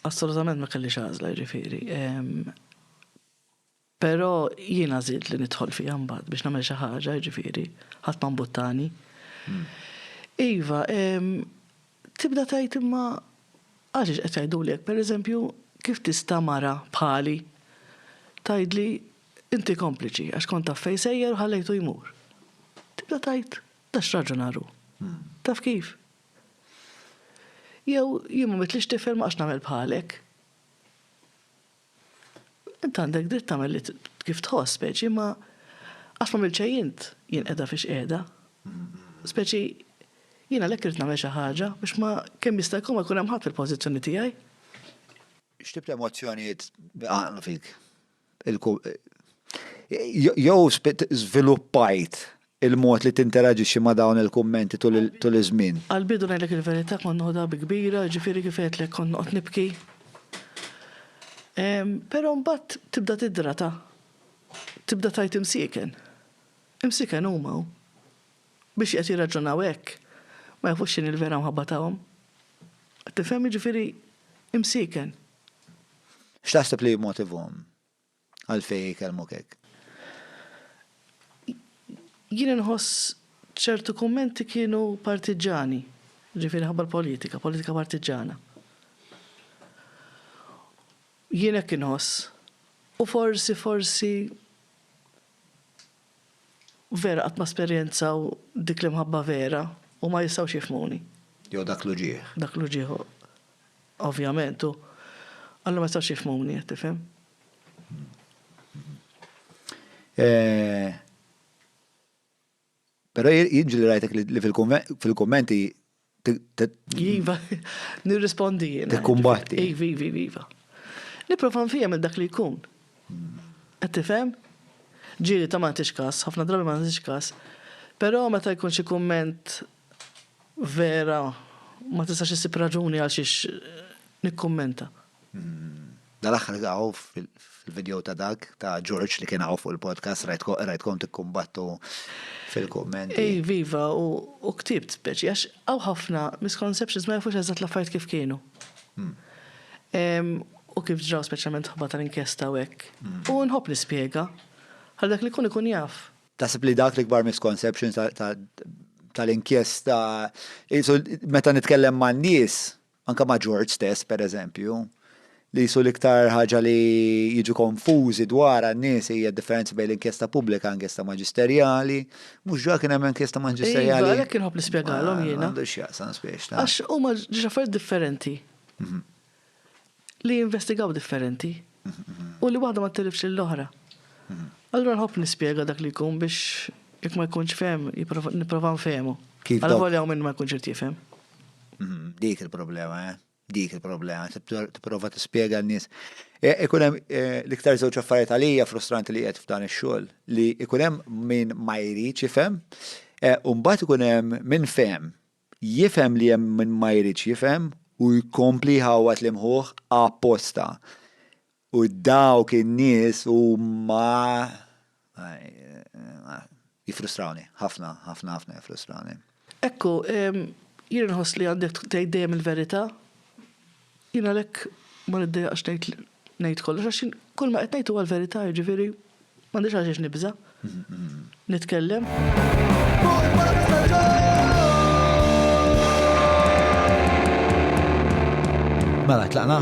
Assolutament ma kellix għażla jiġifieri. Però jien għażilt li nidħol fiha mbagħad biex nagħmel xi ħaġa jiġifieri, ħadd ma mbuttani. Hmm. Iva, tibda tgħid imma għaliex qed jgħiduli hekk, pereżempju, kif tista' mara bħali tgħidli inti kompliċi għax kont taf fejn sejjer u ħallejtu jmur. Tibda tgħid da x'raġunar hu. Hmm. Taf kif? Jew jien ma midtlix tifel ma għax nagħmel bħalek. Int għandek dritt tagħmel li kif tħoss speċi ma għax ma għamilt xejn int jien qiegħda fiex qiegħda. Speċi jien għalhekk irrid nagħmel xi ħaġa biex ma kemm jista' jkun ma jkun hemm ħadd fil-pożizzjoni tiegħi. X'tip ta' emozzjonijiet għaqdu fik? jew żviluppajt il-mod li tinteraġixxi ma' dawn il-kummenti tul iż-żmien? Għall-bidu ngħidlek il-verità kont noħodha bi kbira, jiġifieri kif għedtlek kont noqgħod nibki. Però mbagħad tibda tidrata. Tibda tgħid imsieken. Imsieken huma. Biex qed jirraġunaw hekk, ma jafux x'inhi l-vera mħabba tagħhom. Qed tifhem, jiġifieri imsieken. X'taħseb li jimmotivhom għalfejn jkellmuk hekk? Jien inħoss ċertu kummenti kienu partiġġani, jiġifieri minħabba l-politika, politika partiġġana. Jien hekk inħoss. U forsi, forsi. Vera qatt ma sperjenzaw dik l-imħabba vera u ma jistgħux jifhmuni. Jew dak l-uġigħ. Dak l-uġigħ ovvjament u allura ma jistgħux jifhmuni, qed tifhem? Però jien ġieli rajtek li fil-kummenti Iva, nirrispondi jiena. Tikkumbatti. Iva, iva, iva, iva. Niprofa nfihem il-dak li jkun. Qed tifhem? Ġieli ta' ma nagħtix każ, ħafna drabi ma nagħtix każ. Però meta jkun xi kumment vera ma tistax issib raġuni għal xiex nikkummenta. Dal-aħħar għaw fil-video ta' dak ta' George li kien għaw fuq il-podcast rajtkom tikkumbattu fil-kommenti. Ej, viva, u ktibt speċi, għax għaw ħafna misconceptions ma jafux eżatt l-affarijiet kif kienu. Hmm. U kif ġraw speċjalment ħobba tal-inkjesta u hekk. Hmm. U nħobb nispjega. Għal dak li kun ikun jaf. Tasib li dak li kbar misconceptions tal-inkjesta, meta nitkellem man nies, anke ma' George stess, pereżempju, li qisu l-iktar ħaġa li jiġu konfużi dwarha n-nies hija d-differenza bejn l-inkjesta pubblika u inkjesta maġisterjali. Mhux ġa kien hemm inkjesta Iva, maġisterjali? għalhekk inħobb nispjegalhom Ma jiena. għandu x'jaqsam spiex ta'. Għax huma ġiex affarijiet differenti li jinvestigaw differenti u li waħda ma ttilifx lill-oħra. Allura nħobb nispjega dak li jkun biex jekk ma jkunx fehem jipprova nipprova nfehmu. Kif dawk. Alavolja hawn min ma jkunx irid jifhem. Mm, dik il-problema, eh? Dik il-problema, tipprova tispjega n-nies. E, ikun hemm e, l-iktar żewġ affarijiet għalija frustranti li qed f'dan ix-xogħol li ikun hemm min ma jridx ifhem, e, u mbagħad ikun hemm min fehem. Jifhem li hemm min ma jridx jifhem u jkompli ħawat li mħuħ apposta. U dawk in-nies huma jifrustrawni, ħafna, ħafna, ħafna jifrustrawni. Ekku, jien inħoss li għandek tgħid dejjem il-verità. Jien għalhekk ma niddejjaqx ngħid ngħid kollox għax jien kull ma qed ngħid huwa l-verità, jiġifieri. M'għandix għaliex nibża' nitkellem. Mela, tlaqna?